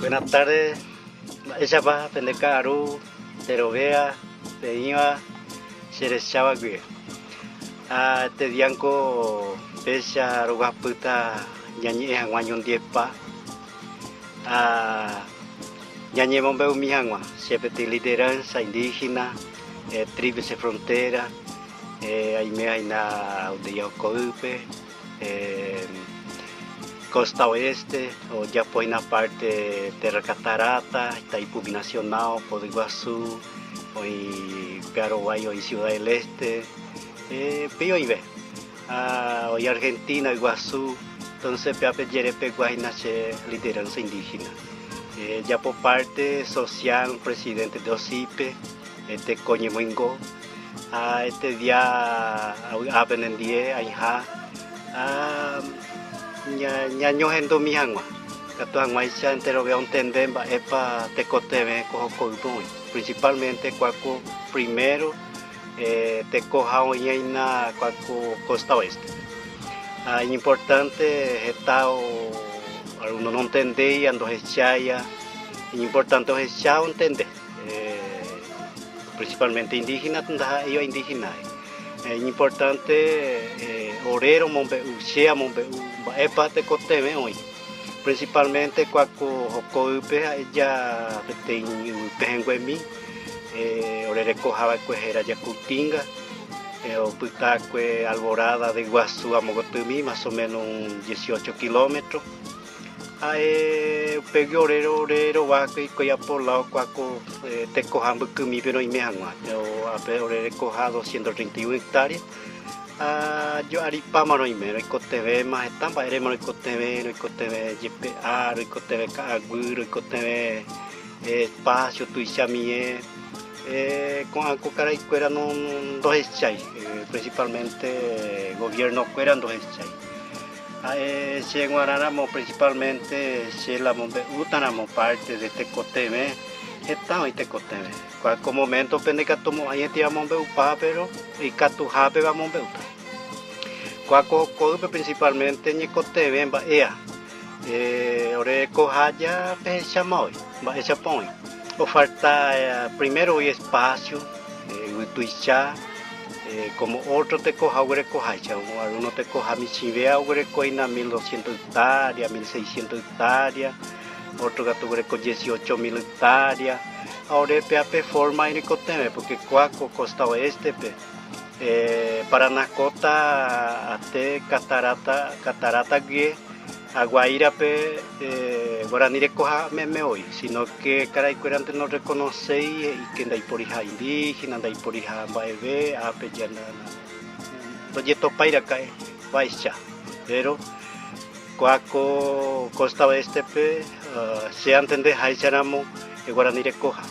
Buena tarde, mba'éichapa pende ka'aru pe rovea peĩva che recháva guive. Ha este día niko péicha roguapýta ñañe'ẽ hag̃ua ñondivepa ha ñañemombe'umi hag̃ua che petỹ lideranza indígena, Tríplice Frontera. Aiméhina Aldeia Okoýpe, Costa Oeste, ojapohína parte Terra Catarata, Itaipu Binacional, Poda Iguaçu, oĩ Pearoguái, oĩ Ciudad del Este, péi oĩve. Ha oĩ Argentina yguasu, entonces pe ape jere peguahína che lideranza indígena. Ejapo parte social Presidente de OSI-pe, teko ñemoingo. Ha este día avy'a penendie aiha ñañohendumi hag̃ua, katu hag̃uáicha enterove ontende mba'épa tekotevẽ ko hokoýpe oĩ. Principalmente kua ko primero tekoha oĩ'aína kua ko costa oeste-pe. Ha iñimportánte heta algúno nontendéi ha ndohecháiva, iñimportánte ohecha ontende. Principalmente indígena ndaha'éiva indígena. Iñimportánte ore romombe'u, che amombe'u mba'épa tekotevẽ oĩ. Principalmente kuako hokoýpe ha'eja peteĩ yvy pehẽnguemi orereko hava'ekue héra Jacutinga, opytákue Alborada de Iguazú amogotými más o menos un dieciocho kilómetro. Ha'e upégui ore rovahákue hikuái apoláo kuáko tekoha mbykymípe roime hag̃ua. Ápe orerekoha doscientos treinta y un hectáreas, ha jo'aripáma roime, roikotevẽma heta mba'érema roikotevẽ, roikotevẽ jepe áa, roikotevẽ ka'aguy, roikotevẽ espacio tuicha mie. Ko'ã ko karaikuéra ndohechái, principalmente gobiernokuéra ndohechái. Ha'e che g̃uarã ramo principalmente che la mombe'úta ramo parte de tekotevẽ, heta oĩ tekotevẽ. Kua ko momento-pe ndaikatu mo'ãietei amombe'upa, pero ikatuhápe amombe'uta. Kua ko ko'ýpe principalmente ñekotevẽ mba'éa, ore ko hája pehecháma oĩ, mba'éichapa oĩ. Ofalta primero oĩ espacio, yvytuicha, Kómo ótro tekoha oguerekoha ijao, algúno tekoha michĩvéva oguerekohína mil dosiénto yktária, mil seisiénto yktária, ótro katu oguereko diesiocho mil yktária. Ha ore pe ape fórma irĩkotevẽ, pórke kua ko kósta oéstepe, Paraná kóta até kataráta, catarata, guyje. Ha Guaírape guarani rekoha meme oĩ, sínóke karaikuérante norrekonoséi he'íke ndaiporiha indíhena, ndaiporiha mba'eve, ápe ndojetopái raka'e. Mba'eicha. Péro kua ko kósta oéstepe, che antende háicharamo guarani rekoha.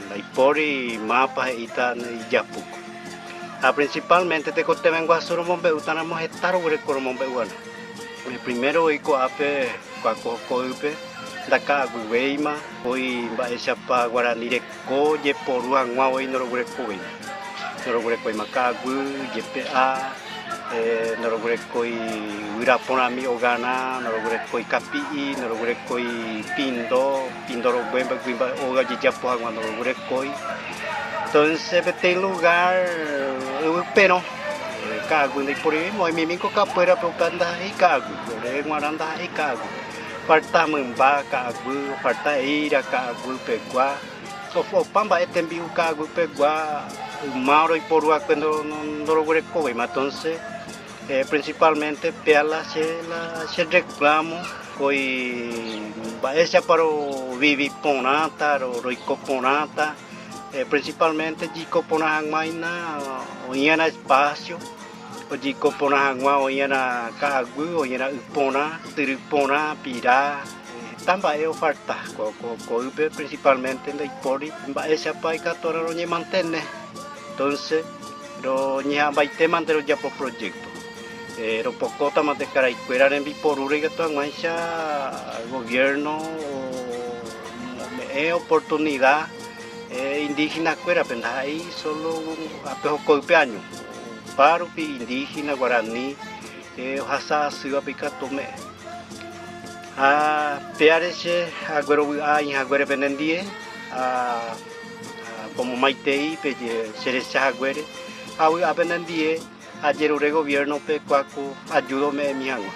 Ndaipóri mápa he'íta ijapúkuri. Ha prensipálmente tekotevẽ guasu romombe'útaramo heta roguereko romombe'úgui. Ore primero voi ko'ápe kuakohoko'ýpe ndaka'aguivéima, voi mba'éichapa guarani reko jeporu hag̃ua voi noroguerekovéima. Noroguerekovéima ka'aguy, jepe'a. noroguerekói guyra porãmi ogana, noroguerekói kapi'i, noroguerekói pindo, pindo rogue mbyguy mba'e óga ojejapo hag̃ua noroguerekói. Entonces peteĩ lugar yvyperõ ka'aguy ndaiporivimo, oimemi ko kakuérape opa ndaha'éi ka'aguy, ore g̃uarã ndaha'éi ka'aguy, ofarta mymba ka'aguy, ofarta eíra ka'aguy pegua. Opa mba'e tembi'u ka'aguýpegua yma oroiporu va'ekue ndoroguerekovéima. Entonces, principalmente péala che la che reclamo voi mba'éichapa rovivi porãta, roiko porãta, principalmente jiko porã hag̃uáina oĩva'erã espacio. Ojeiko porã hag̃ua oĩrã ka'aguy, oĩrã y porã, tyry porã, pira, heta mba'e ofalta. Ko'ýpe prinsipalmente ndaipóri mba'éichapa ikatuha roñemantene. Entónse roñeha'ãmbaitémante rojapo projékto, ropokótamante karaykuéra rembiporúre ikatu hag̃uáicha goviérno ome'ẽ oportunida indígenakuérape, ndaha'éi sólo ape hokoype áño. Opa rupi indígena, guarani ohasa asývape ikatu ome'ẽ. Ha péare che aguerovy'a aĩhaguére penendie, pomomaitei cherecha haguére, ha vy'a penendie ajerure goviérnope kuáko ajúda ome'ẽmi hag̃ua.